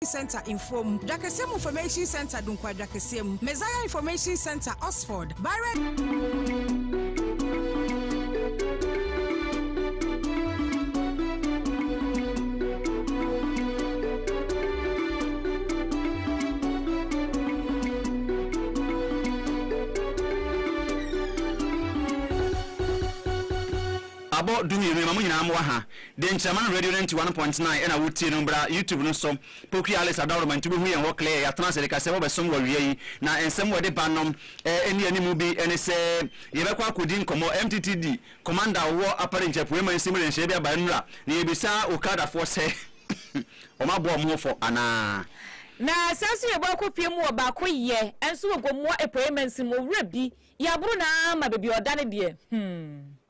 Information Centre Mfuom Dwakɛseɛ mu Information Centre Dunkwaa Dwakɛseɛ mu Messiah Information Centre Oxford Barrett Abɔ dumienu, ɛma mo nyinaa mo wɔ ha. Dɛnkyɛmma no radio no nte 1.9 ɛna wo tie no bra YouTube no so Poki Alice Adaworoma nti wobɛhu yɛn hɔ clear yɛatena ase de ka sɛ wɔbɛsom wɔ awia yi na nsɛm wɔde ba no ɛnni animu bi ɛne sɛ yɛbɛkɔ akɔdi nkɔmmɔ mttd Commander a ɔwɔ Upper Range Apueɛ Mansin mu de nhyehyɛeɛ bi aba nnura na yɛbisa Okada foɔ sɛ wɔn abɔ wɔn ho fɔ anaa. Na sɛ nso yɛbɔ akɔ pie mu wɔ baako yɛ nso wɔ Gomoa Apueɛ Mansin mu owura bi yɛ aboro no ara ma baabi a ɔda no deɛ hmm.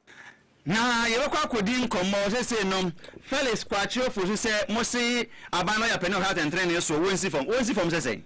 Na yɛbɛkɔ akɔdi nkɔmmɔ seesei no, Felix kɔ akyerɛwfo so sɛ mose aban no ayɛ ɔpɛ ne ɔhwɛ atɛntrenee soɔ, wɔnsi fam. Wɔnsi fam sɛ sɛn?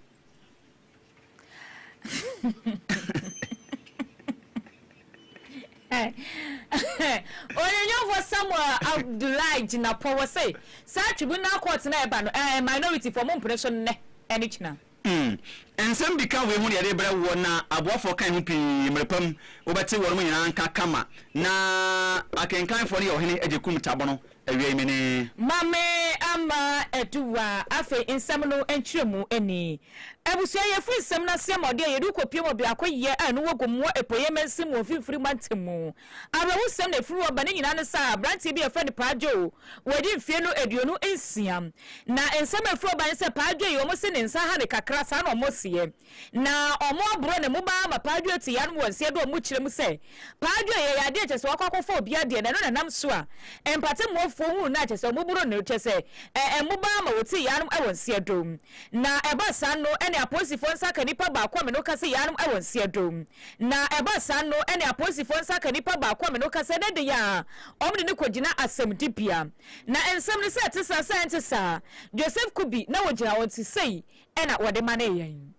Ɔnwonwonfoɔ Samuel Abdullahi gyina pɔwɔ sɛ saa Tribunal Court no a ɛba no, ɛɛ, minority foɔ mompene so nnɛ ne kyena. Umm nsɛm bi ka wei ho de yɛde rebrɛ woɔ na aboafoɔ kan ho pii mmerɛpa mu wobɛte wɔnom nyinaa nka kama na akenkanfoɔ no yɛ ɔhene Agyekum Tabono awia yi menee. Mame ama adu wa afei nsɛm no nkyerɛmu ni. Abusua yɛfiri nsɛm no aseɛ ma ɔde a yɛde wo kɔpue ma biako yɛ a ɛno wɔ Gomoa Apueɛ Mansin mu Mfimfini Mantam mu. Awerɛhosɛm na ɛfiri hɔ ba ne nyinaa ne sɛ aberanteɛ bi a yɛfrɛ no Paa Joe Wadi mfeɛ no aduonu nsia. Na nsɛm a ɛfiri ɔba ne sɛ, Paa Adwoa yi, wɔn se ne nsa ha no kakra, saa na wɔn seɛ. Na wɔn aboro ne mobaa ama Paa Adwoa te yaanom wɔ nseɛ do a wɔn kyerɛ mu sɛ, Paa Adwoa yi, ɛyɛ adeɛ a kyerɛ sɛ wakɔ akɔfa obiara deɛ, na ɛno na ɛnam so a mpatemmoafoɔ hunu no a kyerɛ sɛ wɔn boro no, kyerɛ sɛ, ɛɛ, mobaa ama wɔte yaanom wɔ nseɛ do. Na ɛba saa no, ɛne apolisifoɔ nsa ka nipa baako a me ne wo kasa yi yaanom wɔ nseɛ do. Na ɛba saa no ɛne apolisifoɔ nsa ka nipa baako a me no kasa na ɛde yɛ a wɔn de no kɔgyina asɛmdibea. Na nsɛm no sɛ ɛte saa sɛ ɛnte saa, Joseph Kubi na ɔgyina hɔ nti sei na wɔde manee yɛn.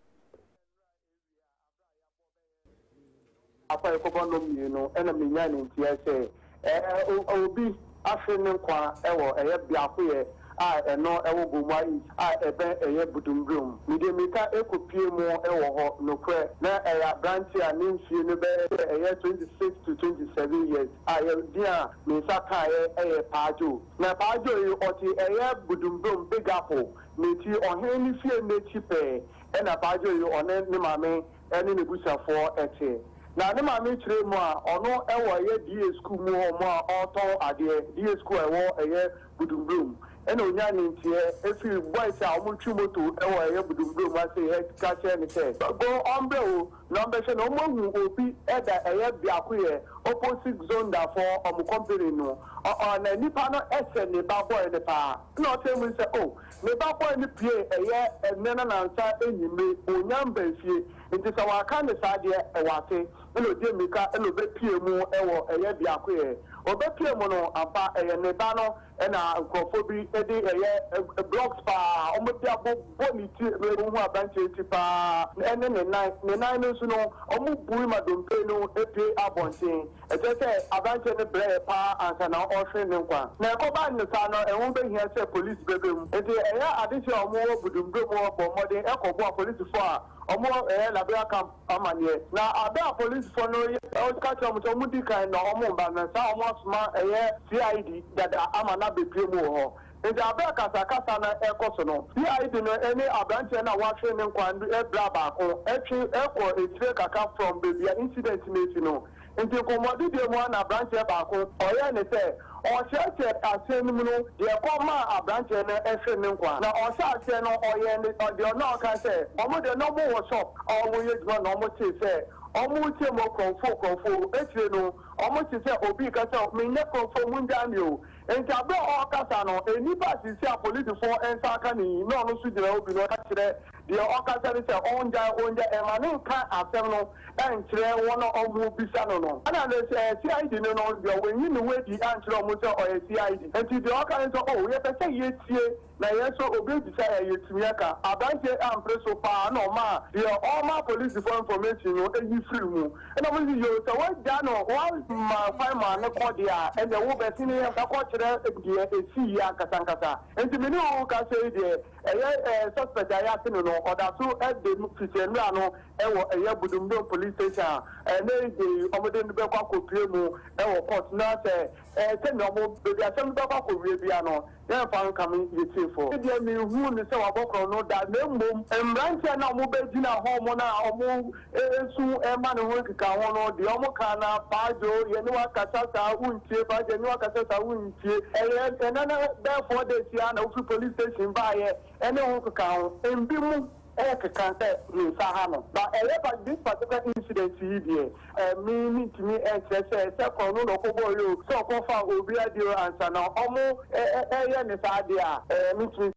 Akwaekɔbɔ nom mmienu na menyaa ne nteɛ sɛ Obi ahwere ne nkwa wɔ ɛyɛ biakoyɛ a ɛno wɔ Gomoa East a ɛbɛn ɛyɛ Budumburom mu. Mede mmirika kɔpuee mu wɔ hɔ. Nokorɛ, na ɛyɛ aberanteɛ a ne mfeɛ no bɛyɛ sɛ ɛyɛ 26 to 27 years a yɛ din a me nsa kaeɛ yɛ Paa Joe. Na Paa Joe yi, ɔte ɛyɛ Budumburom, Big Apple, n'akyi, ɔhene no fie no akyi pɛɛ na Paa Joe yi ɔne ne maame ne n'abusuafoɔ te. Na ne maame kyerɛɛ mu a, ɔno wɔ ɛyɛ DA sukuu mu hɔ mu a ɔretɔn adeɛ, DA sukuu a ɛwɔ ɛyɛ Budumburom. Ɛna ɔnyaa ne nteɛ firi boys a wɔretwi moto wɔ ɛyɛ Budumburom ase hɛ ka kyerɛɛ no sɛ, go ɔmbrɛ wo na ɔmbɛhwɛ na wɔahu obi da ɛyɛ Biakoyɛ opposite Zondafoɔ wɔn company no. Ɔ-ɔ na nipa no hyɛ ne ba boy no paa. Ɛna ɔkyerɛɛ mu sɛ, oh, Me ba bɔe no piee ɛyɛ ɛnnɛ na nansa anwummere ɔnyan baa fie, nti sɛ waka ne saa deɛ ɛwɔ ase, ɛna ɔdi mmirika na ɔbɛpue mu wɔ ɛyɛ biako yɛ. Ɔbɛpue mu no, ampa ɛyɛ ne ba no na nkurɔfoɔ bi de ɛyɛ blocks paa wɔde abobɔ ne ti, na wohu aberanteɛ ti paa ɛne ne nan, ne nan no nso no wɔbui ma dompe no apue abɔnten. Ɛkyerɛ sɛ aberanteɛ no brɛeɛ pa ara ansa na ɔrehwere ne nkwa. Na ɛkɔbaa no saa no, ɛho bɛhia sɛ polisi bɛba mu. Enti ɛyɛ adehyeɛ a wɔwɔ Budumburo mu hɔ bɔɔ mmɔden kɔbɔɔ apolisifoɔ a wɔyɛ Labira Camp amanneɛ. Na berɛ a apolisifoɔ no reka kyerɛ wɔn sɛ wɔdi kan na wɔreba no, saa a wɔasoma ɛyɛ CID dada ama no abɛpue mu wɔ hɔ. Enti bere a akasakasa no rekɔ so no, CID no ne aberanteɛ no a wahwere ne nkwa no bra baako twe kɔ akyire kakra from baabi a incident no asi no. Enti nkɔmmɔdedie mu ara na aberanteɛ baako ɔyɛɛ ne sɛ ɔrekyerɛkyerɛ aseɛ no mu no deɛ ɛkɔ maa aberanteɛ no hwere ne nkwa. Na ɔhyɛ aseɛ no ɔyɛɛ ne deɛ ɔno a ɔkae sɛ wɔn deɛ na wɔwɔ shop a wɔyɛ adwuma na wɔtee sɛ wɔreteam o Kurɔfoɔ Kurɔfoɔ o, akyire no wɔtee sɛ obi reka sɛ menyɛ Kurɔfoɔ mongyaa me o, Ntsi aber a ɔrekasa no, nyimpa a sisi a polisifo nsa aka no yi na ɔno so gyina hɔ bi na ɔka kyerɛ deɛ ɔrekasa no sɛ ɔngyae, ɔngyae, mma no nka asɛm no nkyerɛ wɔn a wɔrebisa no no. Ɛna no sɛ CID no no deɛ, wanyi ne ho adi ankyerɛ wɔn sɛ ɔyɛ CID. Ntsi deɛ ɔka ne sɛ, Oh, yɛpɛ sɛ yɛtie. Na yɛn nso obebisa yɛn yɛatumi aka. Aberanteɛ yi ampere so pa ara na ɔmaa deɛ ɔrema polisifoɔ information no yi firii mu. Ɛna wɔn sɛ, Yoo, sɛ woagya no, woamma kwan maa no kɔ deɛ a, ɛnneɛ wo bɛ sene yɛn kɔ kyerɛ deɛ ɛsii yi ankasa ankasa. Enti me ne wo rekasa yi deɛ, ɛyɛ ɛɛ suspect a yɛate no no, ɔda so de fiti nnora no wɔ ɛyɛ Budumdom police station a ɛnnɛ yi deɛ yi wɔde no bɛkɔ akɔpue mu wɔ court na sɛ ɛɛ sɛdeɛ wɔn baabi asɛm no bɛkɔ akɔwie biara no, na ɛmfa nka me Gyefo. Me deɛ menhuu no sɛ wabɔ korɔno da, na mmom mmeranteɛ a na wɔbɛgyina hɔ wɔn a wɔresu rema ne ho nkekaho no, deɛ wɔkaa no ara, Kwadwo, yɛne wo akasa saa, wontie, Kwadwo, yɛne wo akasa saa, wontie. Ɛyɛ ɛnnɛ na bɛyɛ four days yi ara na wofiri police station baeɛ ne ho nkekaho. Mbi mu. Eric kã dɛ, Me nsa ha no, na ɔyɛ by this particular incident yi deɛ, eh, me mentumi nkyerɛ sɛ sɛ krɔno na ɔkɔbɔɔe o, sɛ ɔkɔfaa obi adeɛ o ansa na ɔmo ɛɛyɛ no saa adeɛ a, eh, mentumi.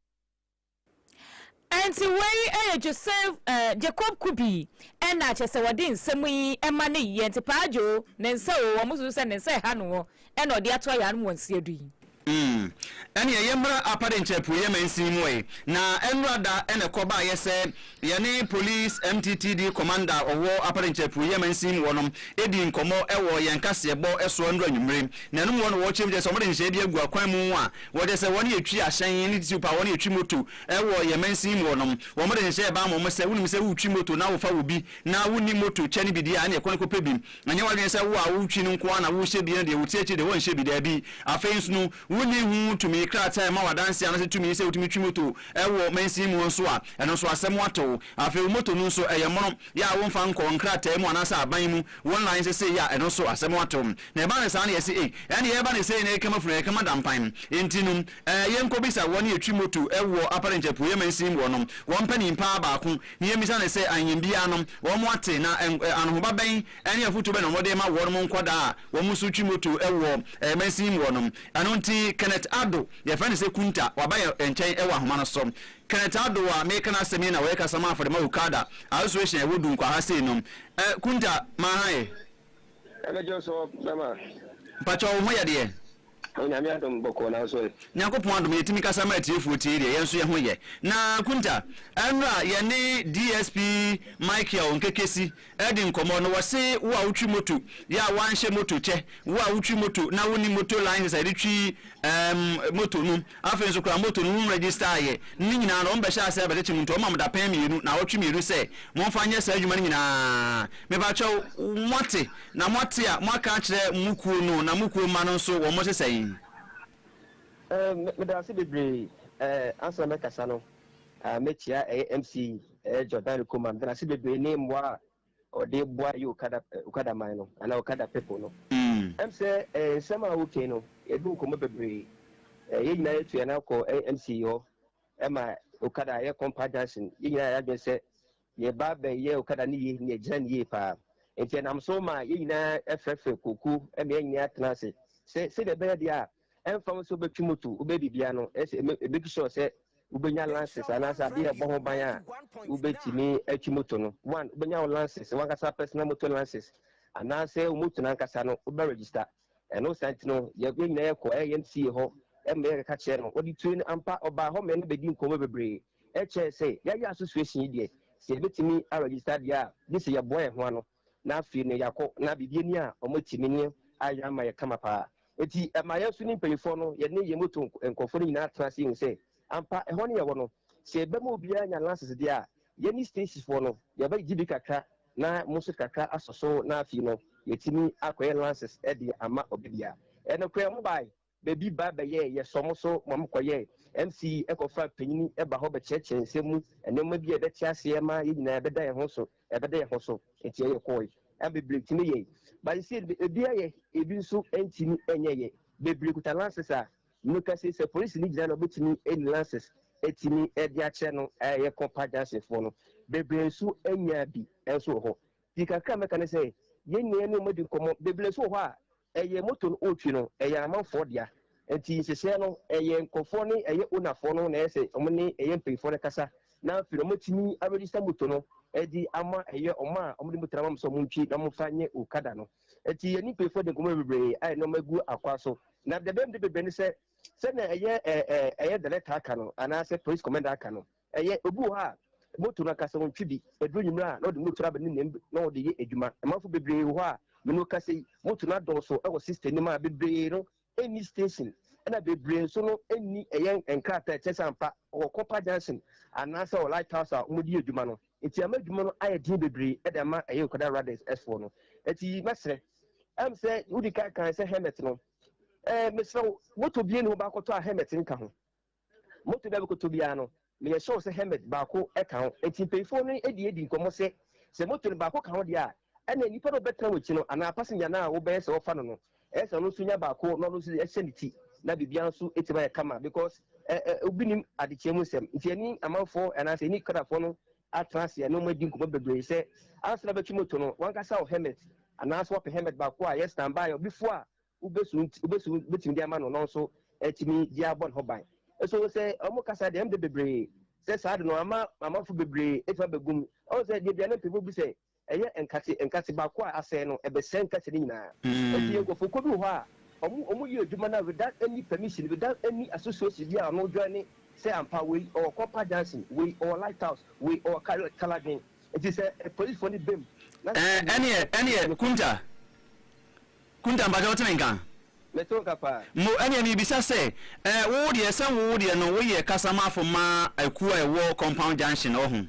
Ɛnti wei yɛ Joseph, eh, Jacob Kubi na kyerɛ sɛ wɔde nsɛm yi ma no yi, ɛnti Paa Joe, ne nsa o, ɔmo susu sɛ ne nsa ɛha no o, ɛna ɔde ato ayaanom wɔn nsiadu yi. Mm. Ɛneɛ yɛmmra Apade nkyɛ apueɛ mansin mu ɛ, na ɛnnora da na ɛkɔ baeɛ sɛ yɛne Police MTTD Kɔmanda a ɔwɔ Apade nkyɛ apueɛ mansin mu hɔ no dii nkɔmmɔ wɔ yɛn kaseɛbɔ so anura anwummere. Na ɛno mu hɔ no wɔkyerɛ mu kyerɛ sɛ wɔde nhyehyɛeɛ bi agu akwan mu a wɔkyerɛ sɛ wɔne yɛtwi ahyɛn ne tisiw pa a wɔne yɛtwi moto wɔ yɛn mansin mu hɔ no. Wɔde nhyehyɛeɛ baa wɔn sɛ wonim sɛ woretwi moto na wofa wɔ bi na wonni moto kyɛ no bi deɛ a ɛneɛ kɔ na kɔpɛ bi. Ɛnyɛ w'adwene sɛ wo a wotwi no nko ara na wohyɛ bi na deɛ wote akyiri deɛ wɔnhyɛ bi. Dabi. Afei nso no, wonni ho tumi. Krataa a ɛma wo adanse anaasɛ tumi sɛ wotumi twi moto wɔ mansin mu nso a, ɛno nso asɛm ato wo. Afei wo moto no nso, ɛyɛ mono. Yɛ a womfa nkɔ nkrataa mu anaasɛ aban mu. Wo nnan nso sei a, ɛno nso asɛm ato wo. Na ɛba no saa na yɛse ei, ɛnde yɛreba no sei na ɛrekama funu, ɛrekama da mpan. Enti no, Ɛɛ yɛnkɔbisa wɔn yɛtwi moto wɔ Upper Range Apueɛ Mansin mu hɔnom, wɔn mpanin paa baako, na yɛmmisa no sɛ ahenbea no wɔn ate na anohoba bɛn ne afotuo bɛn na wɔde rema wɔnom nkwadaa a wɔn nso twi moto wɔ mansin mu hɔnom. Ɛno nti Kenneth Addo, yɛfrɛ no sɛ Kunta, waba yɛn nkyɛn wɔ ahoma no so. Kenneth Addo a mereka n'asɛm yi na ɔyɛ kasamaa for the Mau Kada Association a ɛwɔ Dunkwa ha sei no. Kunta, ma ha ɛ. Ɛbɛgye wo so, mɛma. Mpakyɛw wo ho yɛ deɛ? Onyame adom bɔkɔɔ nanso ɛ. Nyankopɔn adom yɛtumi kasa ma atiefoɔ tie deɛ yɛn nso yɛho yɛ. Na Kunta, ɛnora yɛne DSP Micheal Nkekesi ɛredi nkɔmmɔ na wɔse wo a wotwi moto yɛ a woanhyɛ moto kyɛ, wo a wotwi moto na wonni moto license a yɛde twi ɛɛm moto no, afei nso koraa moto no wo nregister yɛ, ne nyinaa no wɔn bɛhyɛ aseɛ abɛkyekye mo nti wɔma mo dapɛn mmienu, naawɔtwe mmienu sɛ momfa nyɛ saa adwuma no nyinaa. Mepakyɛw moate Na moate a moaka akyerɛ mo kuo no na mo kuo mma no nso wɔn te sɛn? Eh, meda ase bebree eh, ansa na mɛkasa no ah, mɛkyia ɛyɛ MC eh, Jordan Kumah, meda no ase bebree ne mmoa a ɔde boa ɛyɛ Okada, eh, Okada man no, anaa Okada people no. Mm. Ɛm sɛ eh, nsɛm a wokei no, yɛdi nkɔmmɔ bebree, eh, yɛn nyinaa yɛtu yɛn akɔ eh, MC hɔ, ɛma Okada yɛ Kompa Junction, yɛn nyinaa yɛ adwene sɛ Yɛ ba bɛ yɛ okada no yie na yɛ gyina no yie paa. Nti ɛnam so ma yɛ nyinaa frɛ frɛ koko ma yɛ nyinaa tena ase sɛ sɛdeɛ ɛbɛyɛ deɛ a ɛmfa ho sɛ wo bɛ twi moto, wo bɛ yɛ biribiara no ɛsɛ ɛmɛ ɛmake sure sɛ wo bɛ nya lances anaasɛ adeɛ a ɛbɔ ho ban a wo bɛ tumi atwi moto no. One, wo bɛ nya wo lances, wankasa personal moto lances anaasɛ wo moto no ankasa no wo bɛ register. Ɛno saa nti no, yɛn nyinaa yɛkɔ YMCA hɔ ma yɛkeka kyerɛ no. Ɔde tue no, ampa ɔbaa hɔ ma yɛne no bɛdii nkɔmmɔ bebree. Ɛkyerɛɛ sɛ yɛayɛ association yi deɛ, sɛ yɛbɛtumi aregister deɛ a, gye sɛ yɛboa yɛn ho ano na afei no yɛakɔ na biribi ani a, wɔatumi ne yɛn ayɛ ama yɛn kama pa ara. Enti ɛma yɛn nso ne mpanimfoɔ no, yɛne yɛn moto nkurɔfoɔ no nyinaa tena ase hu sɛ ampa ɛhɔ ne yɛwɔ no, sɛ yɛba mu obiara nya license deɛ a, yɛne Stacyfoɔ no, yɛbɛgye bi kakra Na mo nso kakra asɔ so na afei no yɛatumi akɔyɛ lances de ama obi bia. Nokorɛ mo bae baabi ba bɛyɛɛ yɛsɔ mo so ma mo kɔyɛɛ MC kɔ fa panyini ba hɔ bɛkyerɛkyerɛ nsɛm mu nnoɔma bi a ɛbɛte aseɛ ma yɛn nyinaa ɛbɛda yɛn ho so ɛbɛda yɛn ho so nti ɛyɛ kɔɔe na bebree tumi yɛe but seesei no ebi ayɛ ebi nso ntumi nyɛɛ bebree kuta lances a Nokɛse sɛ polisi no gyina na ɔbɛtumi ɛni lances ɛtumi ɛde akyerɛ no a ɛyɛ kɔmpa junction foɔ no bebree nso ɛnyaa bi ɛnso wɔ hɔ ti kakra mɛka ne sɛ yɛn nyinaa yɛne wɔn adi nkɔmɔ bebree nso wɔ hɔ a ɛyɛ motor no ɔretwi no ɛyɛ amanfoɔ dea nti nhyehyɛɛ no ɛyɛ nkorɔfoɔ ne ɛyɛ owner foɔ no na ɛyɛ sɛ wɔn ne ɛyɛ mpaninfoɔ no kasa na afei no wɔn atumi a register motor no ɛde ama ɛyɛ wɔn a wɔn de motor no ama wɔn sɛ wɔn ntwi na wɔn fa nyɛ okada no. Enti yɛne mpanimfoɔ de nkɔmmɔ bebree ayɛ nneɛma gu akwan so. Na deɛ ɛbɛyɛ me de bebree ne sɛ, sɛnea ɛyɛ ɛ ɛ ɛyɛ director aka no anaasɛ police commander aka no, ɛyɛ obi wɔ hɔ a moto no ankasa ɔntwi bi. Ɛduru anwummerɛ a na ɔde moto no aba ne nam na ɔde yɛ adwuma. Amanfoɔ bebree wɔ hɔ a me ne wo kasa yi, moto no adɔɔso wɔ system no mu a bebree no nni station na bebree nso no nni ɛyɛn nkrataa a ɛkyerɛ sɛ ampa ɔwɔ copper junction anaasɛ ɔwɔ light house a wɔde yɛ adwuma no nti ama adwuma no ayɛ den bebree de ama ɛyɛ Nkwadaa Riders ɛfoɔ no nti mɛsrɛ ɛm sɛ wodi kan kan sɛ helmet no ɛɛ mesrɛ wo moto bie ne ho baakɔtɔ a helmet nka ho Moto bɛ bɛkɔtɔ biara no, meyɛ sure sɛ helmet baako ka ho. Enti mpanyinfoɔ no de adi nkɔmmɔ sɛ, sɛ moto no baako ka ho deɛ a, ɛneɛ nnipa no a wɔbɛtena w'akyi no anaa passenger no a wobɛyɛ sɛ wɔfa no no, ɛyɛ sɛ ɔno nso nya baako na ɔno nso hyɛ ne ti na biribiara nso atumi ayɛ kama because obi nnim adekyeɛ mu nsɛm. Nti ɛne amanfoɔ anaa sɛ ɛne Canadafoɔ no atena ase ne wɔn adi nkɔmmɔ bebree sɛ ansa na wobɛtwe moto no, w'ankasa wɔ helmet anaa sɛ woapɛ helmet baako a ɛyɛ standby a obi fo a Wobɛsu nti, wobɛsu bɛtumi de ama no na ɔno nso atumi de abɔ ne ho ban. So sɛ wɔkasa deɛ, ɛmde bebree sɛ saa de no ama amanfo bebree atumi abɛgu mu. Ɔhu sɛ deɛ aduane mpemfo bi sɛ ɛyɛ nkate, nkate baako a asɛe no, ɛbɛsɛe nkate no nyinaa. Enti nkurɔfokuo bi wɔ hɔ a wɔn wɔyɛ adwuma no without any permission, without any association bi a wɔn joine sɛ ampa wei ɔwɔ Copper Junction, wei ɔwɔ Light House, wei ɔwɔ Kal Kaladwen. Enti sɛ polisifoɔ no ba mu na sɛ saa deɛ, Ɛneɛ, ɛneɛ, Kunta, Kunta, mpakyɛ wote me nka? Me te wo nka paa. Mo, ɛneɛ merebisa sɛ, eh, wo deɛ, sɛ wo deɛ no woyɛ kasamafo ma akuo a ɛwɔ Compound Junction hɔ ho?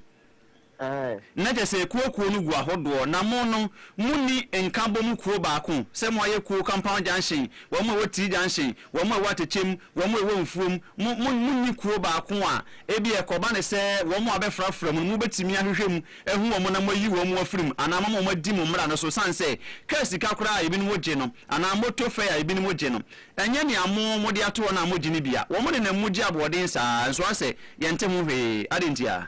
Aye. Na kyerɛ sɛ akuo akuo no gu ahodoɔ, na mo no, monni nkabom kuo baako, sɛ mo ayɛ kuo Compound Junction, wɔn a ɛwɔ Tii Junction, wɔn a ɛwɔ Atɛkyɛm, wɔn a ɛwɔ Mfuom, mo, mo, monni kuo baako a, ebia ɛkɔba no sɛ wɔn a wɔbɛfrafra mu no, mobɛtumi ahwehwɛ mu ahu wɔn na moayi wɔn afiri mu, anaa moama wɔadi mo mmara no so, sane sɛ kaa sika koraa a ebinom gye no, anaa moto fɛe a ebinom gye no. Ɛnyɛ nea mo mode ato wɔn a mogye no bi a, wɔn nenam mu gye aboɔden saa ara, nso asɛ, Yɛnte ho hwee. Adɛn ntia?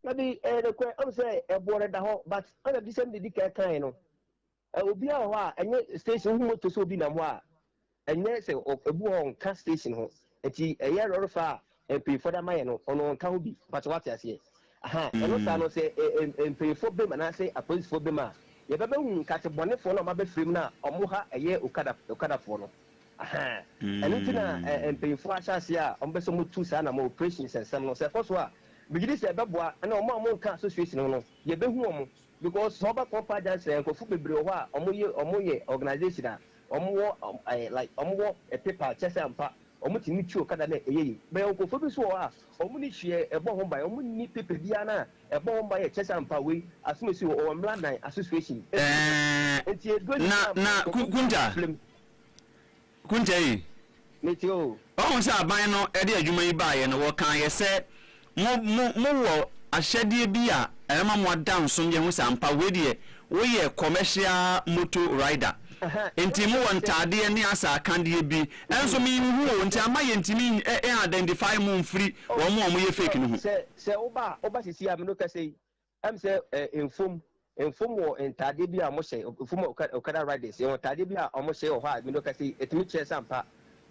Dabi, ɛyɛ nokorɛ, ɔno sɛ ɛboɔ no da hɔ, but ɛna adiyisɛm deɛ ɛdi kan kaeɛ no. Ɛ obiara wɔ hɔ a ɛnyɛ station wohu motor sɛ obi nam hɔ a ɛnyɛ sɛ ɔ ebi wɔ hɔ a ɔnka station ho nti ɛyɛ lɔrefa a mpanyinfoɔ de ama yɛn no ɔno ɔnka ho bi but wate aseɛ aha ɛno saa no sɛ ɛ ɛ ɛ mpanyinfoɔ bem anaasɛ apolisifoɔ bem a yɛbɛbɛhu nkate bɔnefoɔ no a wɔabɛfiri mu no a wɔn ha ɛyɛ okada okadafoɔ no aha ɛno nti na ɛ ɛ mpanyinfoɔ ahyɛ aseɛ a wɔbɛsɛ wɔtu saa na wɔn operations nsɛm no sɛ ɛkɔ so a megye di sɛ ɛbɛboa ɛna wɔn a wɔnka association ho no yɛbɛhu wɔn Because sɛ ɔba Kɔmpa junction a nkorɔfo bebree wɔ hɔ a ɔmo yɛ ɔmo yɛ organisation a ɔmo wɔ ɛɛ like ɔmo wɔ paper kyerɛ sɛ ampa ɔmo tumi tu okada na ɛyɛ yie but yɛwɔ nkorɔfoɔ bi nso wɔ hɔ a ɔmo nni hweɛ ɛbɔ ho ban ɔmo nni paper biara no a ɛbɔ ho ban yɛ kyerɛ sɛ ampa wei asomasi wɔ ɔwɔ mmra nan association ɛɛ nti ɛduro nyinaa ampa nkorɔfoɔ nyinaa bɔ Ɛɛ na na Ku Kunta. Kunta ei. Mete o. Wahu sɛ aban no de adwuma yi baeɛ no, wɔkaa yɛ sɛ mo, mo, mo wɔ ahyɛdeɛ bi a ɛbɛma mo ada nsom yɛ ho sɛ ampa wei deɛ woyɛ commercial motor rider. Nti mo wɔ ntaadeɛ ne asaakadeɛ bi nso me nhu o, nti ama yɛ ntumi ɛ, ɛ identify mo mfiri wɔn a wɔyɛ fake no ho. Sɛ, sɛ woba a, woba seesei a me ne wo kasa yi, Ɛm sɛ eh, mfom, mfom wɔ ntaadeɛ bi a wɔhyɛ, mfom Okada, Okada Riders, yɛwɔ ntaadeɛ bi a wɔhyɛ wɔ hɔ a mene ɔka sei, ɛtumi kyerɛ sɛ ampa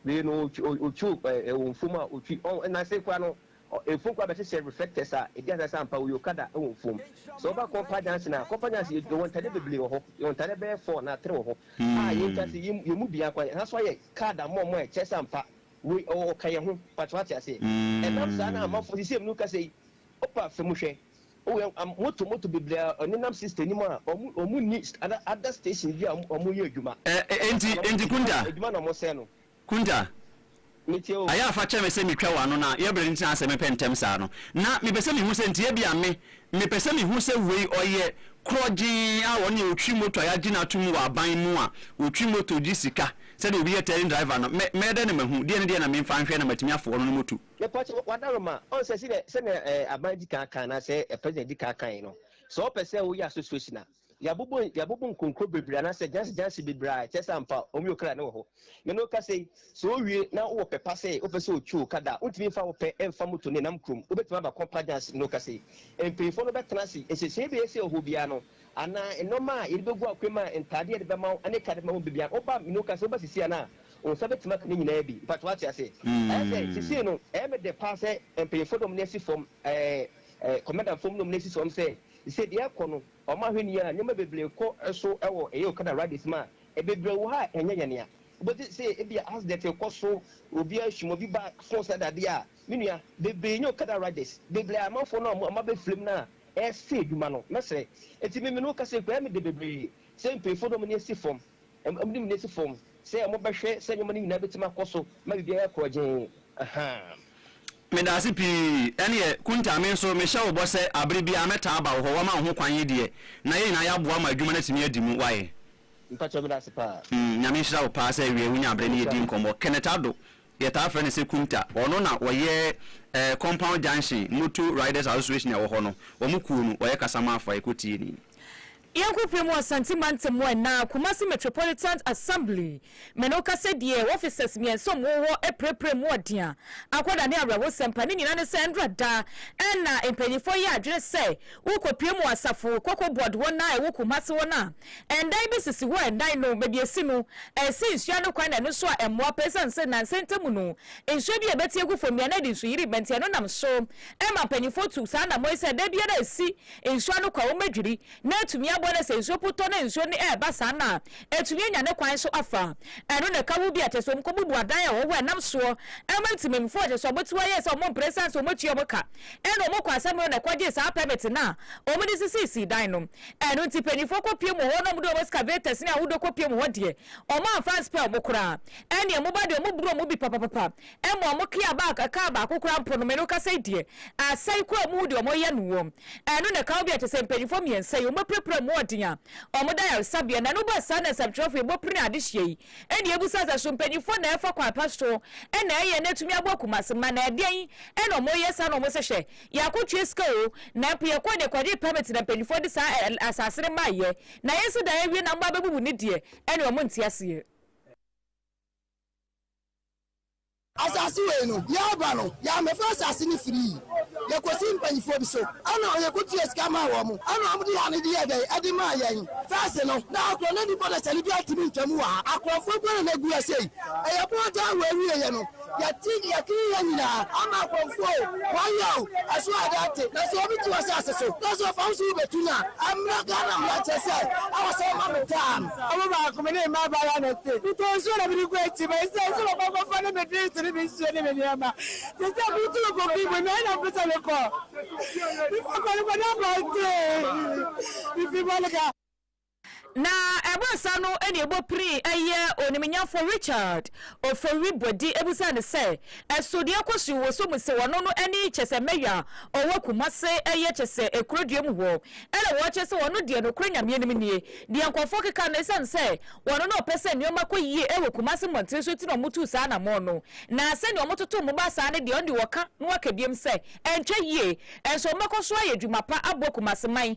wei no ɔtwi, ɔ- ɔtwi o- eh, ɛwɔ mfom a ɔtwi, ɔn, na sei koraa no, ɔ- mfom koraa bɛhyehyɛ reflectors a ɛdi adanse sɛ ampa ɔyɛ Okada wɔ mfom. Sɛ woba Kompa Junction a, Kompa Junction yɛ- yɛwɔ ntaadeɛ bebree wɔ hɔ, yɛwɔ ntaadeɛ bɛyɛ four anaa three wɔ hɔ a yɛntwa sɛ yɛn yɛn mu biara koraa, yɛn ha nso ayɛ card ama wɔn a ɛkyerɛ sɛ ampa wei ɔ- ɔka yɛn ho, mpakyɛ wate aseɛ. Ɛnam saa no a amanfoɔ, seesei mene woka sei, wopa fa mu hwɛ, Oh yɛ am moto moto bebree a ɔnenam sister nim a ɔmo ɔmo nni other other stations bi a ɔmo ɔmo yɛ adwuma Ɛ ɛ ɛna enti saa na ɔmo enti te Kunta, time adwuma na ɔmo sɛɛ no Kunta, me tie o. ayɛ a fa kyɛ me sɛ me twa w'ano na yɛ bere ntena asɛ me pɛ ntɛm saa no na me pɛ sɛ me hu sɛ nti ebi a me me pɛ sɛ me hu sɛ wei ɔyɛ korɔgyee a ɔne a ɔtwi moto a yɛagye no atom wɔ aban mu a ɔtwi moto gye sika sɛdeɛ obi yɛ tɛɛrin driver no mɛ mɛyɛ dɛn na mahu deɛ ne deɛ na me mfa nhwɛ na matumi afoɔ no ne moto. Mepa wo kyɛw, w'adaroma, ɔnsɛ sɛdeɛ, sɛdeɛ ɛɛ aban di kan kan anaa sɛ president di kan kan yi no, sɛ ɔpɛ sɛ ɔyɛ association a, yɛabobo, yɛabobo nkonkro bebree anaa sɛ gyansi gyansi bebree a ɛkyerɛ sɛ ampa wɔn yɛ okra ne wɔ hɔ. Me ne wo kasa yi, sɛ owie na wowɔ pɛ pa sɛ wopɛ sɛ otwi wo ka da a, wontumi mfa wo pɛ mfa moto ne nam kurom, wobɛtumi aba Kompa gyansi. Me ne wo kasa yi, mpanyinfoɔ no bɛtena ase, nhyehyɛe a ɛbɛyɛ sɛ ɛwɔ hɔ biara no, anaa nnoɔma a yɛde bɛgu akwan mu a ntaadeɛ yɛde bɛma wo ne ka de bɛma wo bɛ biara no, woba, me ne wo kasa yi, wobɛsisi anaa? Wo nsa bɛtumi aka ne nyinaa bi. Mpakyɛw wate aseɛ? Ɛyɛ sɛ sesei no ɛyɛ me dɛ paa sɛ mpanyinfoɔ nom no asi fam, ɛɛ kɔmɛndanfoɔ mu nom no asi fam sɛ sesei deɛ ɛrekɔ no wɔn ahwɛ nie a nneɛma bebree rekɔ so wɔ ɛyɛ okada riders mu a bebree wɔ ha a ɛnyɛ yɛn ya. Wobɛte sɛ ebia accident rekɔ so, obi ahwim, obi ba fon sɛ dadeɛ a, me nua bebree nyɛ okada riders, bebree ayɛ amanfoɔ no a wɔn abɛ firim no a ɛresɛe adwuma no. Mɛsrɛ, enti me me ne wo kasa yi koraa ɛyɛ me dɛ bebree sɛ mpanyinfoɔ nom no asi fam. Wɔde mu no asi fam sɛ wɔbɛhwɛ sɛ nneɛma no nyinaa betumi akɔ so ma biribiara ayɛ korɔgyenn. Ahaa. Meda ase pii. Ɛneɛ, Kunta, me nso mehyɛ wo bɔ sɛ abere biara mɛtaa aba wo hɔ, wama wo ho kwan yi deɛ, na yɛn nyinaa yɛaboa ma adwuma no atumi adi mu. Wayɛ? Mpakyɛw, meda ase paa. Mm, Nyame nhyira wo paa sɛ ɛwia yi wonya abere ne yɛdi nkɔmmɔ. Kenneth Addo, Yɛtaa frɛ no sɛ Kumta. Ɔno na ɔyɛ Compound Junction Motor Riders Association a ɛwɔ hɔ no, wɔn kuo no, ɔyɛ kasamafo a yɛkɔ tie ni. Yɛnkɔ pue mu wɔ Asante Mantam anaa Kumasi Metropolitan Assembly me no ka sɛ deɛ wɔ offices mmiɛnsa ɔmo wɔ hɔ apirapira mu ɔdea, akɔda ne awerɛhosɛm pa ne nyinaa ne sɛ ndra da na mpanyinfoɔ yɛ adwene sɛ wo kɔ pue mu wɔ asafo kɔkɔ board hɔ no a ɛwɔ Kumasi hɔ no a, Ɛdan bi sisi hɔ a ɛdan no baabi a esi no ɛsi nsu ano kwan na ɛno nso a ɛmmoa pa esiane sɛ nnansa yi ntamu no nsuo bi a ɛbɛte agu fam biara na ɛde nsu yiri ba nti ɛno nam so ma mpanyinfoɔ tu saa anammɔn yi sɛ da biara esi nsu ano kwan wɔbɛdwiri na atumi aboa na sɛ nsuo po tɔ na nsuo no ɛreba saa no a atumi anya ne kwan so afa ɛno na ɛka ho bi a kyɛ sɛ wɔn kɔ bubu adan a ɛwɔ hɔ a ɛnam soɔ ɛma ntimimfoɔ a kyɛ sɛ wɔn ti wɔayɛ sɛ wɔn mpere esiane sɛ wɔn tua wɔn ka ɛna wɔn kɔ asɛm no na ɛkɔgye saa pɛmɛte no a wɔn de sisisii dan no Ɛno nti mpanyimfoɔ kɔpiem wɔ hɔ na wɔde wɔn excavators ne ahodoɔ kɔpiem hɔ deɛ, wɔamfa anspare wɔn koraa. Ɛnneɛ moba deɛ wɔboro wɔn bi papapapa. Mmom mo kea ba a kaa baako koraa mpo no, me no kasa yi deɛ, asɛe koraa a mohu deɛ wɔyɛ no wom. Ɛno na ɛka ho bi a kyerɛ sɛ mpanyimfoɔ mmiɛnsa yi, wɔapirapira wɔn mu ɔden a wɔda ayaresabea. Na ɛno ba saa na nsɛmtwerɛfoɔ yi bɔ pene adehyeɛ yi. Ɛnneɛ bisa sɛ, so mpanyimfoɔ na ɛrefa kwan pa so na ɛyɛ na atumi aboa Kumasi mma? Na ɛdeɛn na wɔreyɛ saa na wɔse hwɛ, Yɛako tua sika oo, na mpo yɛkɔɔ deɛ kɔgyee permit na mpaninfoɔ de saa ɛ ɛ asaase no maeɛ, na yɛsi dan awie na mo ba bɛbubu ne deɛ, ɛne ɔmo nte aseɛ. Asaase wei no, yɛɛba no, yɛammɛfa asaase no firii, yɛkɔsii mpaninfoɔ bi so, ɛna yɛko tua sika maa wɔn, ɛna wɔn de ha no de yɛɛ dɛn, ɛde maa yɛn. First no, na akorɔnani bɔdasani biara ntumi ntwa mu wɔ ha, akorɔfoɔ nko ara na na egu ha sei, ɛyɛ boɔ daa wɔ awieɛ no. Yɛte nea King yɛ nyinaa ama akorɔmfoɔ o, wɔayɛ o, ɛso ada ate, na sɛ obi te w'asaase so na sɛ ɔfa wo so wobetu no a, ɛmmra Ghana mmara nkyerɛ sɛ ɛwɔ sɛ woma me tam. Ɔbo baako me ne mmaa baayɛ na ɛte, metɔɔ nsuo na mede kɔɔ akyi, ma ɛsiane sɛ wɔkɔ akɔfa ne me drinks ne me nsuo ne me nneɛma, te sɛ me tu no kɔ fie mu, meɛn na mepɛ sɛ mekɔ, mefa kɔ no kɔ na abɔnten, mefi Bolga. Na ɛbaa saa no na ɛbɔ pirii ɛyɛ onimnyafoɔ Richard Ofori-Boadi ɛbusaa no sɛ ɛso deɛ ɛkɔ so yi wɔ so mu sɛ ɔno no ɛne kyɛsɛ Mayor a ɔwɔ Kumase ɛyɛ kyɛsɛ Akurodua mu hɔ ɛna wɔkyerɛ sɛ ɔno deɛ nokorɛ Nyame anim nie deɛ nkorɔfoɔ keka no ɛsiane sɛ ɔno na ɔpɛ sɛ nnoɔma kɔ yie ɛwɔ Kumase mmɔntene so nti na ɔmo tuu saa anamɔn no na sɛdeɛ ɔmo toto ɔmo baa saa no deɛ ɔno deɛ ɔka na waka biom sɛ ɛntwa yie nso ɔmo bɛkɔ so ayɛ adwuma pa aboa Kumase man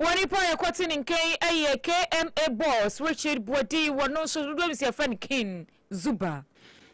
Wɔ nnipa a yɛkɔte ne nkyɛn yi yɛ KMA boss Richard Boadi, wɔno nso dodoɔ nim sɛ yɛfrɛ no King Zuba.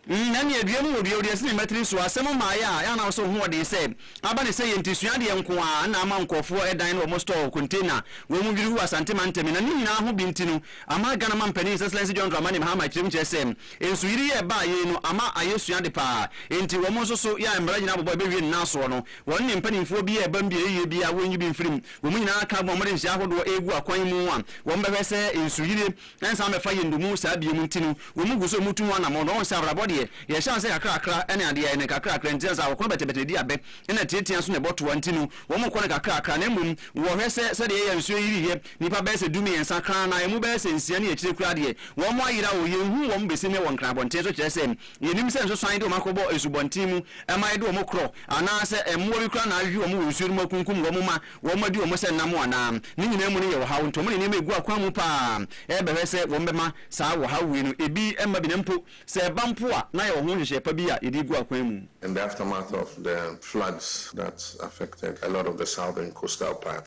Mm na nea dua mu wɔ dua odua si ne mma tiri so asɛm mmaeɛ a ɛa na wosɛ wo ho ɔden sɛ aba ne sɛ yɛ nti sua adeɛ nko ara na ama nkurɔfoɔ ɛdan ne wɔn store container wɔn mu dwiri wu Asante mantam yi na ne nyinaa ho bi nti no ama Ghana mampanin His Excellency John Dramani Mahama kyerɛ mu kyerɛ sɛ nsuyiri yi a ɛbaa yei no ama ayɛ sua ade paa nti wɔn nso so yɛ a mmara nyinaa bɔbɔ ɛbɛwie ne nan soɔ no Wɔn ne mpanimfoɔ bi reba mu beaeɛ bi a wɔnyi bi mfiri mu. Wɔn nyinaa ka bom a wɔde nhyɛ ahodoɔ regu akwan mu a wɔbɛhwɛ sɛ nsuyire nsan mmɛfa yɛn dommum saa bio mu nti no, wɔn gu so retu ho anammɔn. Na wɔn sɛ abrabɔ deɛ, yɛhyɛ ase kakrakra ne adeɛ a yɛyɛ no kakrakra nti, ansa akɔkɔ no bɛtebɛte na ɛdi abɛ na atiatia nso na ɛbɔ toa nti no, wɔkɔ no kakrakra. Na mmom wɔhwɛ sɛ sɛdeɛ yɛn nsuo yiri yɛ nnipa bɛyɛ sɛ dummiɛnsa kra na ɛmu bɛyɛ sɛ nsia ne akyire koraa deɛ, wɔayera o, yɛnhu wɔn bɛsi nnɛ wɔ Nkran abɔnten so kyerɛ sɛ Yenim sɛ nsosoan de wɔn akɔbɔ asubɔnten mu ma ɛde wɔn korɔ, anaasɛ mmoa bi koraa na ahwehwe wɔn wɔ nsuo no mu akunkum wɔn ma wɔadi wɔn sɛ nam anaa? Ne nyinaa mu no yɛ ɔhaw, nti wɔn de nneɛma regu akwan mu paa rebɛhwɛ sɛ wɔbɛma saa ɔhaw wei no ebi mma bi na mpo sɛ ɛba mpo a na yɛwɔ ho nhyehyɛe pa bi a yɛde regu akwan mu. In the aftermath of the floods that affected a lot of the southern coastal part,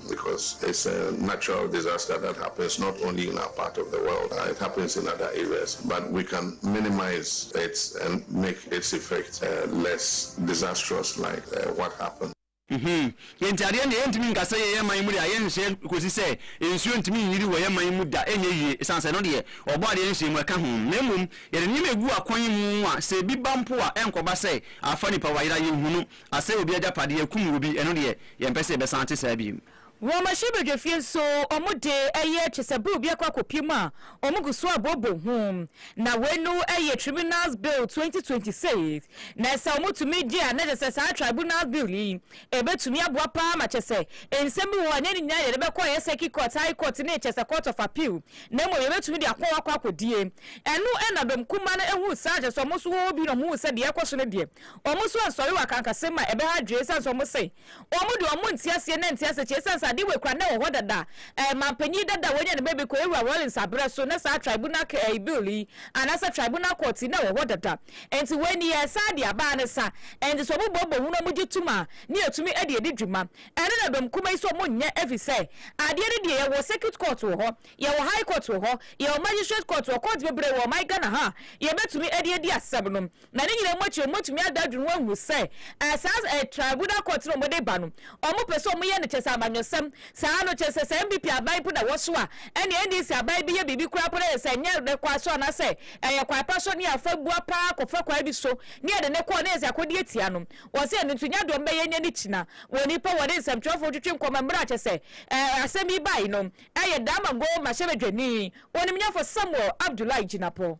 because it's a natural disaster that happens not only in our part of the world, it happens in other areas but we can minimize it and make its effect less disastrous like what happened. Enti adeɛ ndeɛ yɛntumi nka sɛ yɛn man mu deɛ ayɛ nhyɛ kɔsi sɛ nsuo ntumi nyiri wɔ yɛn man mu da ɛnyɛ yie ɛsiane sɛ ɛno deɛ wɔbɔ adeɛ nhyɛ mu ɛka ho na mmom yɛde nneɛma ɛgu akwan mu a sɛ ɛbi ba mpo a ɛnkɔba sɛ afa nipa wayera yɛnhunu Asɛe obi agyapade, akum obi, ɛno deɛ yɛmpɛ sɛ yɛbɛsan te saa bio. Wɔ Mahyia Badwafie nso, wɔn de, ɛyɛ kyɛ sɛ Bill bi akɔ akɔpue mu a wɔgu so abooboo ho. Na wei no yɛ Tribunals Bill 2026, na sɛ wɔtumi gye a na kyɛ sɛ saa Tribunals Bill yi, ɛbɛtumi aboa pa ara ma kyɛ sɛ nsɛm bi wɔ hɔ a ɛnyɛ ne nyinaa na yɛde bɛkɔ ɛyɛ Circuit Court, High Court ne kyɛ sɛ Court of Appeal, na mmom yɛbɛtumi de akɔ hɔ akɔ akɔdie. Ɛno na Dɔm Kumaa no huu saa, kyɛ sɛ wɔn nso wɔwɔ bi na wɔhuu sɛ deɛ ɛrekɔ so no deɛ, Wɔn so ansɔre wɔ akankasɛm mu a ɛbɛha adwene esiane sɛ wɔse wɔn de wɔn nte aseɛ na ɛnte asekyɛ esiane sɛ adeɛ wei koraa na ɛwɔ hɔ dada a ɛɛ manpanyin dada a wɔanya ne baabi kɔ Ewura Rawlings aberɛ so na saa tribunal kɛ ɛɛ bill yi anaasɛ tribunal court yi na ɛwɔ hɔ dada enti wei nie ɛsan de aba ne sa enti sɛ wɔn bɔ bɔ hunu wɔn gye tom a ne yɛtumi de adi dwuma ɛno na dɔm kuma yi sɛ wɔn nyɛ ɛfiri sɛ adeɛ no deɛ yɛwɔ circuit court wɔ hɔ yɛwɔ high court wɔ hɔ yɛwɔ magistrate court wɔ court bebree wɔ ɔman Ghana ha a yɛbɛtumi de adi asɛm no Na ne nyinaa mu akyi no, wɔbɛtumi ada adwene ho ahu sɛ eh, saa eh, tribunal court no a wɔde ba no, wɔpɛ sɛ wɔyɛ no kyɛ sɛ amanyɔsɛm. Saa no kyɛ sɛ sɛ NPP aban mpo na wɔso a, ɛnneɛ NDC aban bi yɛ biribi koraa mpo na yɛ sɛ ɛnyɛ ne kwan so anaasɛ ɛyɛ kwan pa so ne afa bua pa ara kɔfa kwan bi so ne yɛde ne kɔɔ na yɛ sɛ akɔdi atia no. Wɔ sɛ ɛno nti nyɛ adeɛ wɔbɛyɛ nyɛ ne kyina. Wɔ nnipa wɔne nsɛmtwerɛfoɔ twetwe nkɔmmɔ mmerɛ a kyɛ sɛ eh, asɛm yi bae no, ɛyɛ Damango mmarahyɛbadwani, onimnyafo Samuel Abdullahi Jinapor.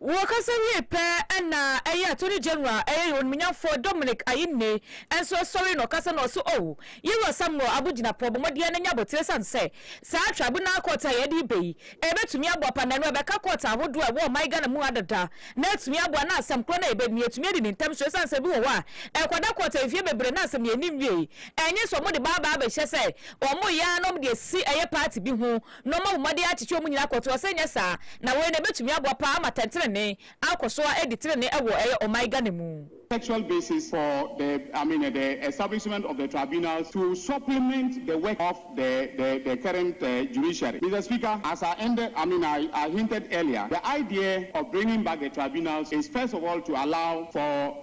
Wɔkasa wiei pɛ na ɛyɛ Attorney General a ɛyɛ yɛn Onimnyamfoɔ Dominic Ayine nso sɔre na ɔkasa na ɔse oh, Yɛn Wura Samuel Abu Jinapor bɔ mmɔdeɛ no nyɛ abotire ɛsane sɛ saa Tribunal Court a yɛde reba yi ɛbɛtumi aboa pa na ɛno ɛbɛka Court ahodoɔ a ɛwɔ ɔman Ghana mu ha dada na atumi aboa na asɛm korɔ no a yɛbɛdi no yɛtumi adi no ntɛm so ɛsane sɛ ebi wɔ hɔ a ɛkɔda Court mfeɛ bebree na asɛm no yɛnni nwiei ɛnyɛ sɛ wɔde ba abɛhyɛ sɛ wɔyɛ ara na wɔde asi ɛyɛ party bi ho na ɔma wo mma de akyekye wɔn nyinaa kɔtoɔ, sɛ ɛnyɛ saa na wei na ɛbɛtumi aboa paa ama tɛntenenee akɔ so ara adi tenenee wɔ ɛyɛ ɔman Ghana mu. textual basis for the, I mean, the establishment of the tribunals to supplement the work of the, the, the current judiciary. Mister Speaker, as I ended, I mean, I, I hinted earlier, the idea of bringing back the tribunals is first of all to allow for,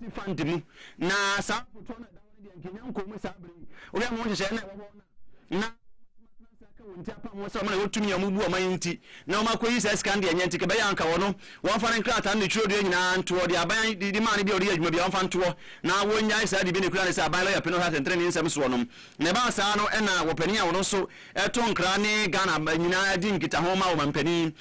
Agency Fund mu, na saa afotuo no a ɛda hɔ no deɛ nka ɛnya nkɔɔ mu saa berɛ yi. Wohwɛ ama ho nhyehyɛeɛ no a ɛwɔ hɔ no a, na ka wɔn ti apam wɔn sɛ wɔn na wɔtumi a wɔbu wɔn ayi nti na wɔn akɔyi saa sika no deɛ ɛnyɛ nti ka bɛyɛ anka wɔn wɔmfa ne nkrataa no ne twerɛdua nyinaa ntoɔ deɛ aban de de maa no bi a ɔde yɛ adwuma bi a wɔmfa ntoɔ na wɔnyae saa de bi ne kura ne sɛ aban lɔya pene ɔhwɛ atɛntɛnee nsɛm soɔ nom na ɛbaa saa no ɛna wɔpanin a wɔn nso ɛto nkra ne Ghana nyinaa di nkitaho ma wɔn mpanin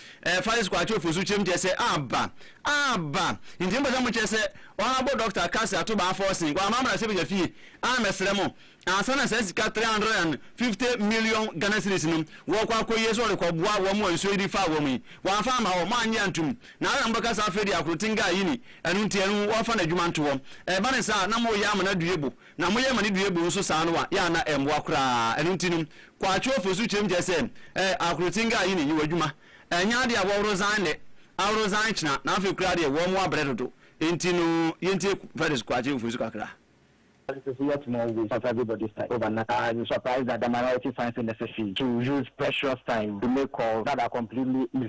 Faris kwa akyɛ ofosu kyerɛ mu kyɛ sɛ aba aba nti mpɛ sɛ mo kyɛ sɛ honourable Doctor Cassy Ato Baa Forson kwa mamra sɛ bɛgya fie a mɛ srɛ mo ansa na saa sika 350 million Ghana cedis no wɔ kɔ akɔ yie sɛ ɔde kɔ boa wɔn wɔ nsuo yi de faa wɔn yi wamfa ama hɔ mo annye antum na adɛn na mo bɛka saa afei deɛ akoroten guy yi ni ɛno nti ɛno wɔ fa no adwuma nto hɔ ɛba ne saa na mo yɛ amana due bo na moyɛ ma ne dua bu nso saa no a, yɛ a na ɛmmoa koraa. Ɛno nti no, Kwaatwoofo nso kyerɛm kyerɛ sɛ, Ɛ ahoro tse ngaa yi ne nyiwa dwuma. Ɛnyɛ ade a wɔhoro zan nnɛ, ahoro zan kyena, na afei koraa deɛ wɔn abrɛ dodo. Enti no, yɛntie Frederick Kwaatwoofo nso kakra. That is yet more waste of everybody's time over nothing. I am surprised that the minority finds it necessary to use precious time to make calls that are completely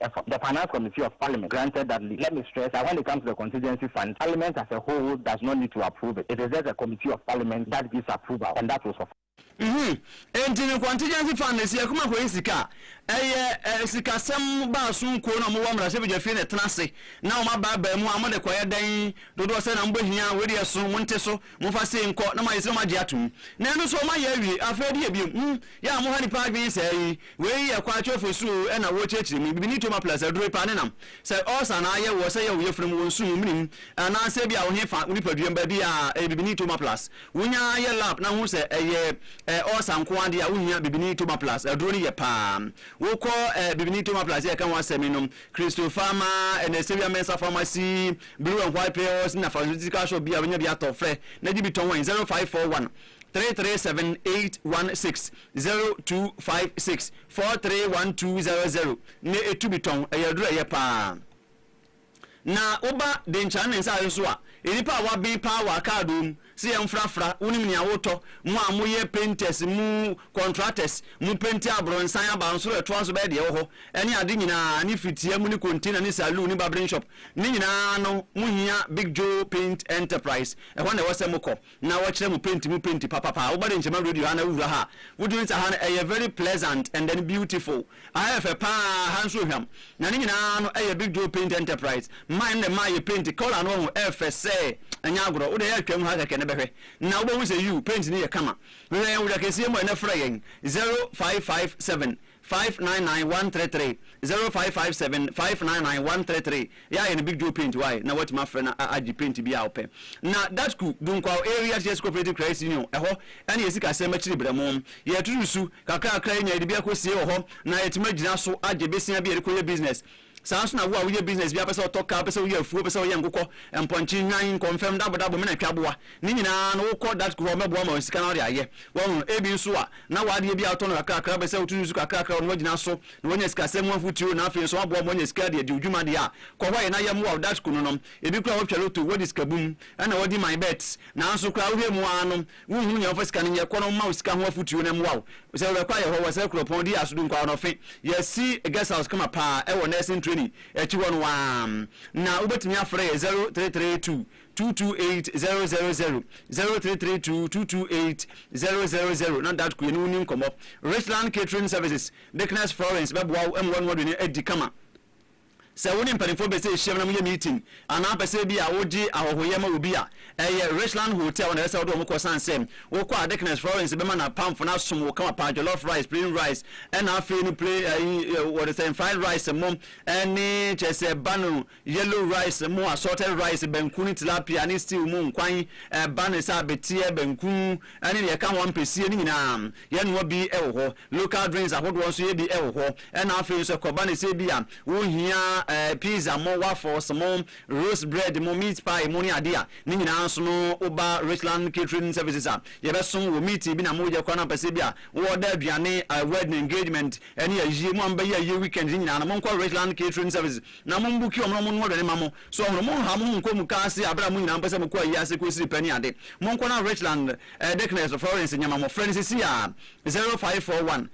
The the Finance Committee of Parliament granted that leave. Let me stress that when it comes to the contingency fund, Parliament as a whole does not need to approve it. It is just the Committee of Parliament that gives approval and that will suffice. Mhmm enti no contingency fund no si ɛko ma kɔyi sika a? Ɛyɛ eh sikasɛm baaso nkuo na ɔmo wɔ mmarahyɛbedwafie na ɛtena ase na ɔmo abaabae mu a ɔmo de kɔyɛ dɛn? Dodoɔ sɛn na mobɛhia? Wei deɛ ɛso, monte so. Momfa sei nkɔ na moayɛ sɛ moagye atom, na ɛno nso moayɛ awie. Afei ɛde yɛ biom. Hum! Yɛ a moha nipa adwene saa yi! Wei yɛ kwa atwa fo su oo ɛna worekyerɛkyerɛ mu. Bibini toma plus aduro paa ne nam. Sɛ ulcer anaa ayɛ woɔ, sɛ ɛyɛ wo yafunu mu, wo nso mu, menim, anaa sɛ ebia wo he fa, wo nipadua mu baabi a, ɛyɛ bibini toma plus. Wonya ara yɛ lab na hu sɛ ɛyɛ eh ulcer nko ara deɛ a wohia bibini toma plus. Aduro no yɛ paa. Wokɔ eh bibini toma plus yɛ ka ho asɛm nom Kristo Fama, ɛna ɛsɛ wia mɛnsa pharmacy, blue and white pills na pharmaceutical shop bi a wobɛnya bi atɔ, frɛ na gye bi tɔn wɛn 0541 337 816, 0256 431200 na ɛtu bi tɔn, ɛyɛ aduro a ɛyɛ paa. Na woba Denkyane ne nsaase so a, nnipa a wɔaben paa wɔ akaadoo mu Se yɛn frafra, wonim nea wotɔ, mo a mo yɛ painters, mo contractors, mo penti abronsan aba nsoro a ɛtoa so bɛyɛ deɛ ɛwɔ hɔ, ɛne ade nyinaa, ne fitia mu ne container ne saloon ne barbering shop, ne nyinaa no mo hia Big Joe Paint Enterprise, ɛhɔ na ɛwɔ sɛ mo kɔ na wɔ kyerɛ mo paint mu paint papapaa, wo ba de nkyɛma radio ha na wo wura ha a, wo dwene sɛ ha no ɛyɛ very pleasant and then beautiful. Aha yɛ fɛ paa, aha nso hwam. Na ne nyinaa no ɛyɛ Big Joe Paint Enterprise man na ɛma yɛ paint colour no wahu ɛfɛ sɛ ɛnyɛ agorɔ wo deɛ twam ha kɛkɛ na bɛhwɛ na wobɛhu sɛ yiw paint no yɛ kama hwehwɛ yɛn wura kɛseɛ mu ɛnɛ frɛ yɛn 0557 599 133 0557 599 133 Yɛayɛ no big joe paint wai na woatumi afrɛ no agye paint biaa wopɛ. Na Gatku, Dunkwao Areas Yes Cooperative Credit Union, ɛhɔ ne yɛ sikasɛm akyiri brɛmo. Yɛtutu su kakrakra yɛnya yɛde bi akɔsie wɔ hɔ na yɛatumi agyina so agye besia bi a yɛde kɔyɛ business. Saa nso na wo a woyɛ business biaa wopɛ sɛ wotɔ kaa, wopɛ sɛ woyɛ afuo, wopɛ sɛ woyɛ nkokɔ, mpɔnkye, nnwan, nkɔmfɛm, dabodabo, mena twaboa, ne nyinaa no wokɔ Gatku hɔ ɔmɛboa ma wo sika na wode ayɛ. Wahu no? Ebi nso a na woadeɛ bi a wotɔ no kakrakra wopɛ sɛ wotutu su kakrakra wɔ no woagyina so na wɔanya sikasɛm mu afotuo, na afei nso aboa wɔn ma wɔanya sika de adi wo dwuma deɛ a, kɔ hɔ a yɛn na yɛmmoa wo Dutch kunu no, ebi koraa wɔtwa loto, wɔdi sikabum, ɛna wɔdi my bet, nanso koraa wohwɛ mu ara no wonhunu nea wɔmfa sika no nyɛ, kɔ na wɔmma wo sika ho afotuo na ɛmmoa wo sɛ wobɛkɔ ayɛ hɔ, wɔsrɛ kuropɔn, di aso du nkwaɔnɔfe, yɛasi guest house kama paa ɛwɔ nursing training akyi hɔ no ara, na wobɛtumi afrɛ yɛn zero three three two two two eight zero zero zero, zero three three two two two eight zero zero zero, na Dutch ku yɛne wo nni nkɔmmɔ Richland Catering Services. Deaconess Florence bɛboa wo ama w'anoa aduane adi kama. Sɛ wo ne mpanimfoɔ pɛ sɛ ɛhyiam na moyɛ meeting anaa pɛ sɛ ebia wogye ahɔhoyɛ ma obi a, ɛyɛ Richland Hotel hɔ na ɛsɛ sɛ wode wɔn kɔ ɛsiane sɛ wokɔ a Deaconess Florence bɛma n'apamfo no asom wo kama paa jollof rice, plain rice ɛna afei no plain, ayi, wɔde sɛn, fried rice mo ɛne kyerɛ sɛ banh Yellow rice mu assorted rice, banku ne tilapia ne stew mu nkwan, ɛba ne sɛ abeteɛ, banku ne deɛ ɛka ho ampesie no nyinaa yɛnoa bi wɔ hɔ. Local drinks ahodoɔ nso yɛdi wɔ hɔ. Ɛna afei nso ɛkɔba ne sɛ ebi a wohia pizza mo, waffles mo, roast bread mo, meat pie mo ne adeɛ a, ne nyinaa nso no woba Richland Catering Services a, yɛbɛsom wo. Meeting bi na moreyɛ koraa na wopɛ sɛ ebi a wo order aduane, wedding, engagement ne ayie, mo a mobɛyɛ ayie weekend ne nyinaa no monkɔ Richland Catering Services. Na mo mbuki wɔn na wɔn noa aduane ma mo. So ɔhono, mo nha mo ho nkɔ muka ase abere a mo nyinaa mpɛsɛ mo kɔ ayi ase kɔ esiri pɛ ne ade. Mo nkɔ na Richland, eh, Dickness or Florence nyɛ ma mo. Frɛ no sisi ara, zero five four one,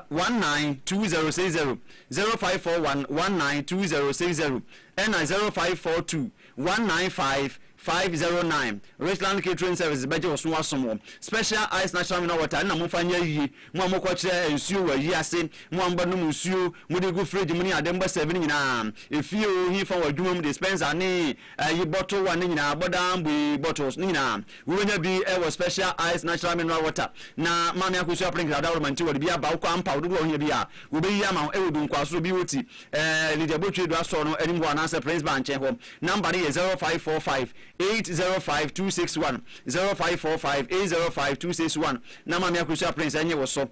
one nine two zero six zero, zero five four one, one nine two zero six zero, ɛna zero five four two, one nine five five zero nine Richland Catering Services bɛgye wo so asom wo. Special Ice Natural Mineral Water ne na momfa nyɛ ayie. Mo a mokɔkyerɛ nsuo wɔ ayie ase, mo a mobɛnom nsuo, mode gu fridge mu ne ade, mobɛsɛve no nyinaa. Efie oo, he fa wɔ adwuma mu, dispenser ne ayi bottle one no nyinaa, bɔdaa mbue bottles no nyinaa, wobɛnya bi wɔ Special Ice Natural Mineral Water. Na Maame Akosua Prince Dada Ɔrɔma nti wɔde bi aba. Wokɔ a, mpaw dodoɔ a wohia biara wɔbɛyi ama wo wɔ Dunkwa so, bi wɔ ti, Ɛɛ, Lydia Botwe do asɔr no anim hɔ anaasɛ Prince Bar nkyɛn hɔ. Number no yɛ zero five four five eight zero five two six one, zero five four five eight zero five two six one. Na Maame Akosua Prince nye wo so.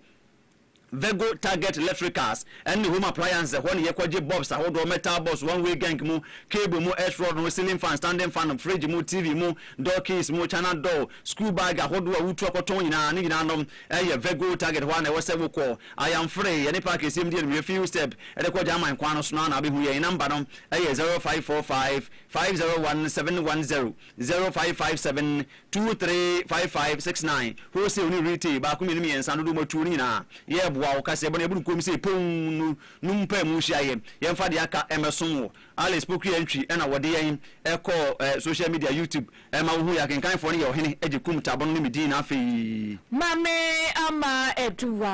Vego Target Electricals ne Home Appliances, ɛhɔ na yɛkɔgye bulbs ahodoɔ, metal bulbs, one way gank mu, cable mu, earth rod mu, ceiling fan, standing fan, fridge mu, TV mu, door keys mu, china door, school bag ahodoɔ a wotu akɔtɔn nyinaa, ne nyinaa nom. Ɛyɛ Virgo target hɔ a na ɛwɔ sɛ wokɔ. I am free, yɛne park ɛsiam di animia fi Ustep de kɔ Gyaman kwan no so no a na wobɛhu yɛn. Number no ɛyɛ zero five four five five zero one seven one zero, zero five five seven two three five five six nine, wholesale ne retail, baako mmienu mmiɛnsa, dodoɔ mu atuo no nyinaa yɛreboa wo. Kaseɛbɔ no yɛboro koom sei pounn no no mpae mu nhyiaeɛ, yɛmfa deɛ aka mmɛsom wo. Alice Poku Antwi na ɔde yɛn kɔɔ social media, YouTube Ɛma wohui akenkanfoɔ no yɛ ɔhene gye kum tabono ne me din na afei. Ma me ama aduwa.